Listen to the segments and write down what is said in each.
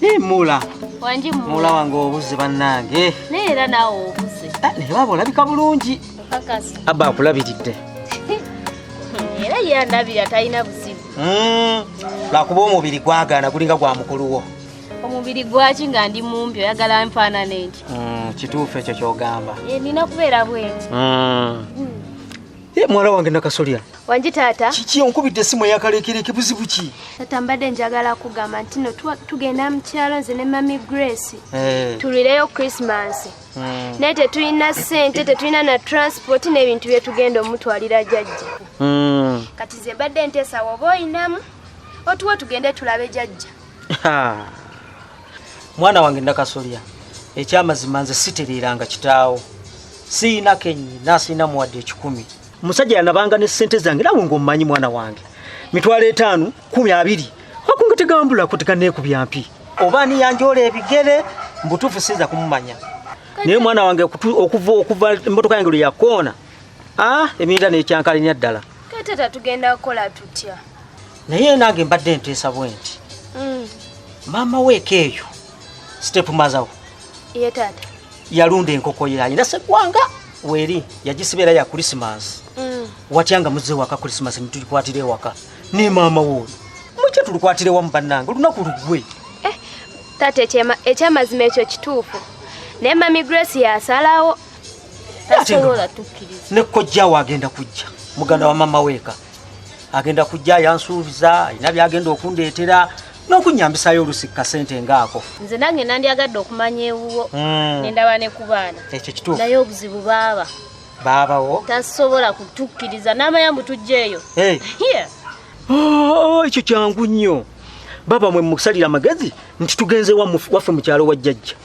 Hey, mula wangi mula mula wange obuze bannange naye era naawe obuze Ah, naye baba olabika bulungi kakasa abba akulabiridde era yandabira talina buzibu Mm, lwakuba omubiri gwagaana gulinga gwa mukulu wo omubiri gwaki nga ndi mumpi oyagala nfaanana enti mm, kituufu ekyo kyogamba eh, nina kubeera bwenti mm. mm. eh, muwala wange nakasolya wangi taata kiki onkubidde esimu eyakalekereke buzibu ki tata mbadde njagala kugamba nti no tugenda mu kyalo nze ne mami grace eh. tulireyo christmas hmm. naye tetulina sente tetulina na transport n'ebintu bye tugenda omutwalira jajja hmm. kati ze mbadde nteesawo oba oyinamu otuwa tugende tulabe jajja mwana wange ndakasolya ekyamazima nze sitereeranga kitaawo siina kenyi nasiina muwadde ekikumi musajja yanabanga ne sente zange nawe ngaomumanyi mwana wange mitwalo etaano kumi abiri akunga tegambulako teganeekubya mpi oba niyanjoola ebigere mbutuufu sinza kumumanya naye mwana wange okuva okuva emmotoka yange lwe yakoona ah, eminda nekyankalenya ddala tata tugenda kukola tutya naye nange mbadde nteesa bwe nti mm. maama weeka eyo sitepu mazawo ye taata yalunda enkoko ye alina seggwanga weeri yagisiba era ya kulisimansi mm. watya nga muzze ewaka kulisimansi nitugikwatira ewaka ne maama wooyo mukye tulukwatire wamu bannange olunaku lugwe eh, taata ekyamazima ekyo kituufu naye mami grace yasalawo ne kojjawo agenda kujja muganda wa mama weeka agenda kujja yansuubiza alina byagenda okundeetera n'okunyambisayo olusi kasente ngaako nze nange nandyagadde okumanya ewuwo hmm. nendaba ne ku baana ekyo kituufu naye obuzibu baaba baabawo tasobola kutukkiriza n'amaya mbu tujja eyo oh, ekyo kyangu nnyo baba mwe musalira amagezi nti tugenze waffe mu kyalo wa jjajja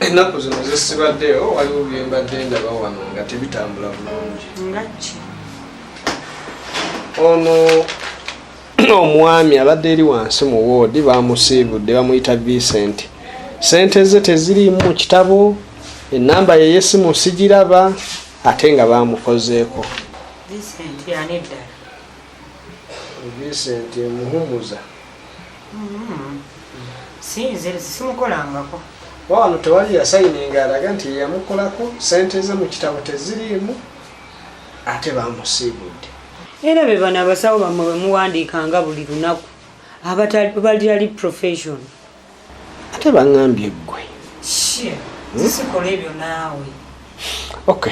ennaku zino zesibaddeyo waliwo byembadde ndaba wano nga tebitambula bulungi ngaki ono omwami abadde eri wansi mu woodi bamusiibudde bamuyita vincent sente ze teziriimu mu kitabo enamba yeyesimu sigiraba ate nga bamukozeeko Vincent muhumuza mm-hmm. sinze simukolangako wano tewali yasayininga alaga nti yeyamukolako sente ze mu kitabo teziriimu ate bamusiibudde era be bano abasawo bamwe bemuwandiikanga buli lunaku abatalibali profession ate baŋambye ggwe zisikola hmm? ebyo naawe ok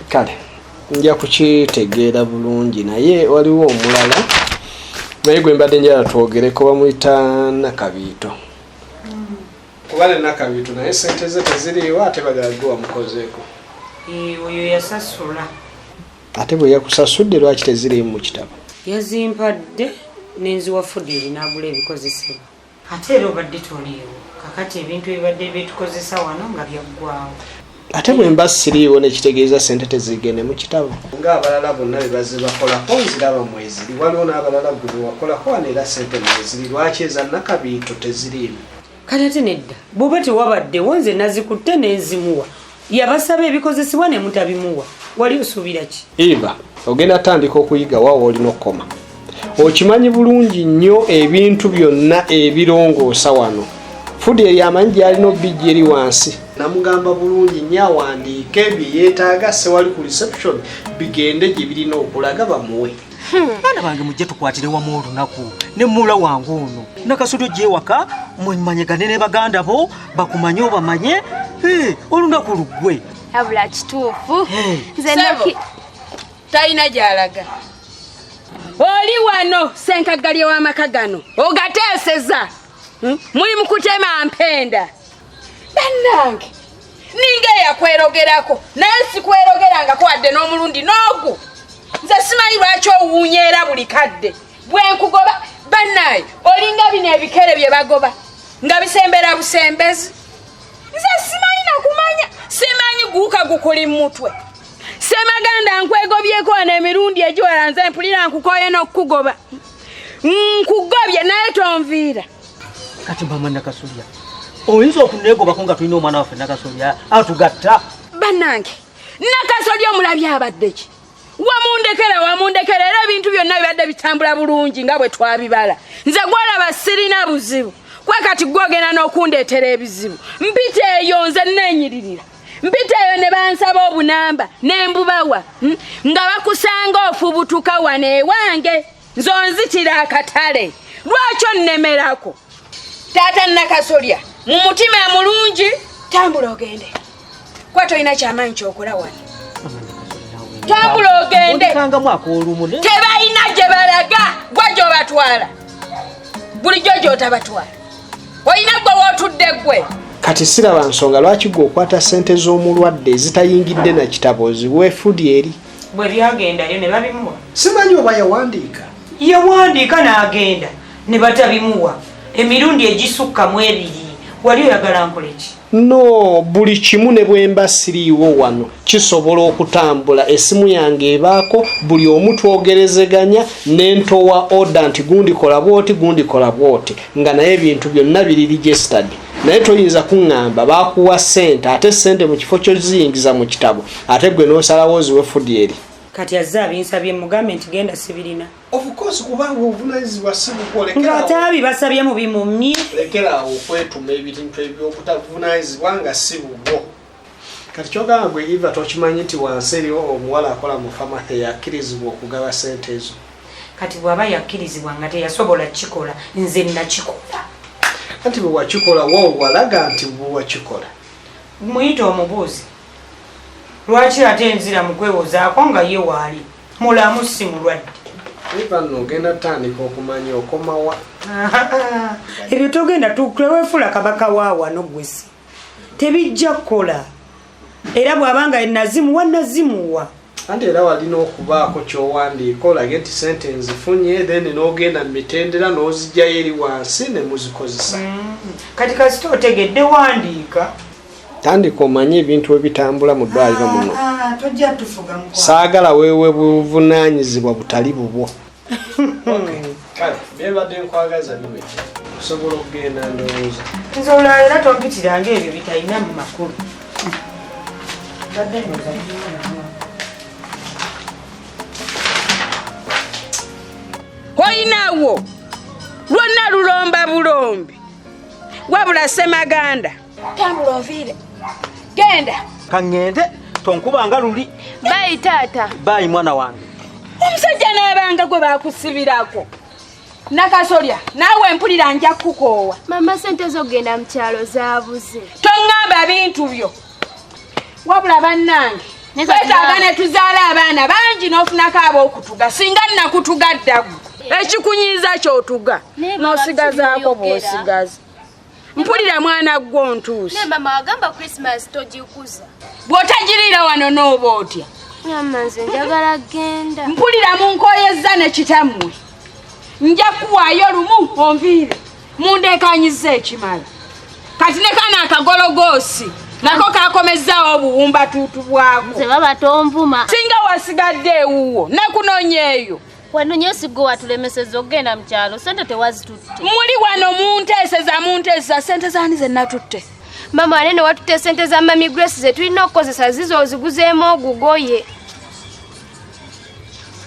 kale nja kukitegeera bulungi naye waliwo omulala naye gwe mbadde njala twogereko bamuyita nakabiito hmm. kuba ne nakabiito naye sente ze teziriiwo ate bagala gwe wamukozeeko eh, oyo yasasula ate bwe yakusasudde lwaki teziriimu mu kitabo yazimpadde nenziwa fudiri nagula ebikozesebwa ate era obadde toliiwo kakati ebintu ebibadde byetukozesa wano nga byaggwawo ate bwe mba siriiwo nekitegeeza sente tezigende mu kitabo ngaabalala bonna bebaze bakolako nziraba mweziri waliwo n'abalala gwe bewakolako wano era sente mweziri lwaki eza nakabiito teziriimu kale ate nedda bwoba tewabaddewo nze nazikutte nenzimuwa yabasaba ebikozesebwa ne mutabimuwa wali osuubira ki eva ogenda tandika okuyiga wawa olina okukoma okimanyi bulungi nnyo ebintu byonna ebirongoosa wano fudi eri amanyi gyalina obijja eri wansi namugamba bulungi nnyo awandiike bye yeetaaga sewali ku reception bigende gye birina okulaga bamuwe hmm. baana bange mujje tukwatire wamu olunaku ne muula wange ono nakasudi ojja ewaka mumanyegane ne baganda bo bakumanye obamanye olunaku luggwe abula kituufu talina gyalaga oli wano senkaggalye w'amaka gano ogateeseza hmm? muli mukutema mpenda bannange ninga eyakwerogerako naye sikwerogerangako wadde n'omulundi n'ogu nze simanyi lwaki owuunya era buli kadde bwenkugoba banaye olinga bino ebikere bye bagoba nga bisembera busembezi nze simanyi nakumanya simanyi guuka gukuli mumutwe semaganda nkwegobyeko wano emirundi egiwala nze mpulira nkukoye n'okukugoba nkugobye naye tonviira kati mama nakasolya oyinza okunegobako nga tulina omwana waffe nakasolya atugatta banange nakasolya omulabi abadde ki wamundekera wamundekera era ebintu byonna bibadde bitambula bulungi nga bwe twabibala nze gwalaba sirina buzibu kwe kati gwogenda n'okundeetera ebizibu mpita eyo nze neenyiririra mpita eyo ne bansaba obunamba ne mbubawa hmm? nga bakusanga ofubutuka wano ewange nze onzitira akatale lwaki onnemerako taata nakasolya mu mutima mulungi tambula ogende kuba tolina kyamaanyi kyokola wano tambula ogende tebalina gye balaga gwa gyobatwala bulijjo gyotabatwala olina gwe wootudde gwe kati siraba nsonga lwaki gwe okwata sente z'omulwadde ezitayingidde na kitabo ziweefudi eri bwe byagendayo ne babimuwa simanyi oba yawandiika yawandiika n'agenda ne batabimuwa emirundi egisukka mu ebiri wali oyagala nkoleki no buli kimu ne bwemba siriiwo wano kisobola okutambula esimu yange ebaako buli omu twogerezeganya nentowa oda nti gundikola bwoti gundikola bwoti nga naye ebintu byonna biri registered naye toyinza kuŋŋamba bakuwa ssente ate ssente mu kifo kyoziyingiza mu kitabo ate gwe nosalawo oziwe fudi eri kati azze abinsabye mugambe nti genda sibirina ngaate abi basabye mu bimumyi lekerawo okwetuma ebintu ebyokutavunanyizibwa nga si bubwo kati kyogamba gwe iva tokimanyi nti wansi eriwo omuwala akola mu fama eyakkirizibwa okugaba sente ezo kati bwaba yakkirizibwa nga teyasobola kikola nze nakikola anti bwewakikola wowalaga nti bwewakikola muyita omubuuzi lwaki ate nzira mukwewozaako nga ye waali mulamu si mulwadde ogenda tandika okumanya okomawa ebyo togenda tuwefuula kabaka waawano gwesi tebijja kukola era bwabanga nazimuwa nazimuwa anti era walina okubaako kyowandiika olage nti sente nzifunye then n'ogenda mu mitendera n'ozijjayo eri wansi ne muzikozesa mm. kati kasita otegedde wandiika tandika omanye ebintu ebitambula mu ddwaliro ah, muno ah, saagala wewe buvunanyizibwa butali bubwo kale byebadde nkwagaza biwekya osobola okugenda ndowooza nze olwala era tompitira nga ebyo bitalina mu makulu badde nyoza olinawo lwonna lulomba bulombi wabula semaganda tambula oviire genda kaŋŋende tonkubanga luli bayi taata bayi mwana wange omusajja n'abanga gwe bakusibirako nakasolya naawe mpulira nja kukoowa mama sente zokugenda mu kyalo zaabuze toŋŋamba bintu byo wabula bannange twetaaga ne tuzaala abaana bangi n'ofunako ab'okutuga singa nnakutuga ddagu ekikunyiiza kyotuga n'osigazaako bw'osigaza mpulira mwana gwo ontuuse naye mama wagamba christmas togikuza bw'otagiriira wano n'oba otya mama nze njagala genda mpulira mu nkoyezza ne kitammwe nja kuwaayo lumu onviire mundeekanyiza ekimala kati ne kana akagologoosi nako kakomezzaawo obuwumbatuutu bwako singa wasigadde ewuwo nekunonyeeyo wano nyo sigwe watulemeseza okugenda mu kyalo sente tewazitutte muli wano munteeseza munteeseza sente zaani ze natutte mama wane newatutte sente za mami grace ze tulina okukozesa zizo oziguzeemu ogugoye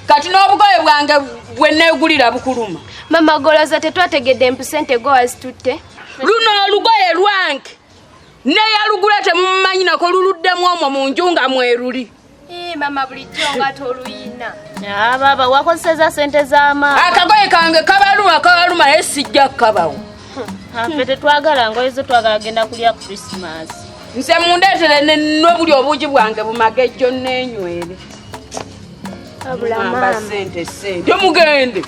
kati n'obugoye bwange bwe neegulira bukuluma mama goloza tetwategedde mpu sente go wazitutte luno olugoye lwange neyalugula temumanyi nako luluddemu omwo mu nju nga mweruli mama bulijjo nga toluyina ah, baba wakozeseza sente z'amaani akagoye kange kabaluma kabaluma naye sijja kukabawo ah, fe tetwagala ngoye zo twagala genda kulya christmas nze mundeetere nobuli obuugi bwange bumagejjo nenywere sente sente mugende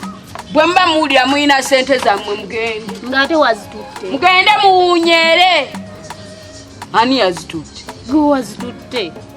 bwe muba muwulira mulina sente zammwe mugende ngaate wazitutte mugende muwunyere ani yazitutte gwe wazitutte